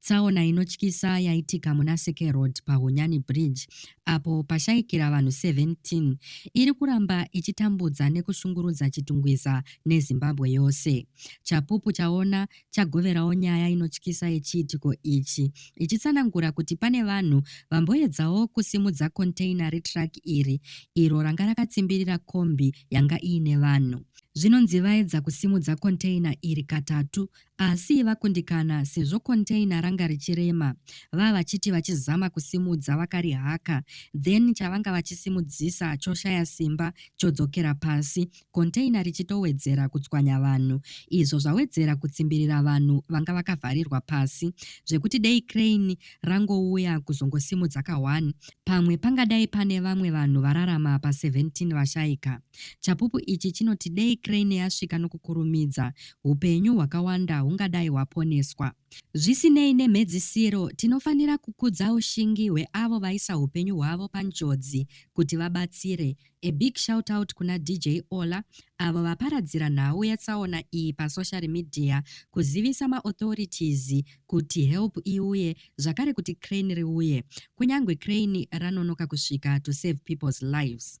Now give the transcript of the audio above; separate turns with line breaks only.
Tsaona inotyisa yaitika muna Seke Road paHunyani Bridge apo pashaikira vanhu 17 iri kuramba ichitambudza nekushungurudza Chitungwiza neZimbabwe yose. Chapupu chaona chagoverawo nyaya inotyisa yechiitiko ichi ichitsanangura kuti pane vanhu vamboedzawo kusimudza container retruck iri iro ranga rakatsimbirira kombi yanga iine vanhu. Zvinonzi vaedza kusimudza container iri katatu Asi vakundikana sezvo container ranga richirema. Va vachiti vachizama kusimudza vakarihaka then chavanga vachisimudzisa choshaya simba chodzokera pasi container richitowedzera kutswanya vanhu izvo zvawedzera kutsimbirira vanhu vanga vakavharirwa pasi zvekuti dei crane rangouya kuzongosimudza ka one pamwe pangadai pane vamwe vanhu vararama pa 17 vashaika. Chapupu ichi chinoti dei Crane yasvika nokukurumidza, upenyu hwakawanda hungadai hwaponeswa. Zvisinei nemhedzisiro, tinofanira kukudza ushingi hweavo vaisa upenyu hwavo panjodzi kuti vabatsire. A big shout out kuna DJ Ola avo vaparadzira nhau yetsaona iyi pasocial media kuzivisa maauthorities kuti help iuye zvakare kuti Crane riuye. Kunyangwe Crane ranonoka kusvika to save people's lives.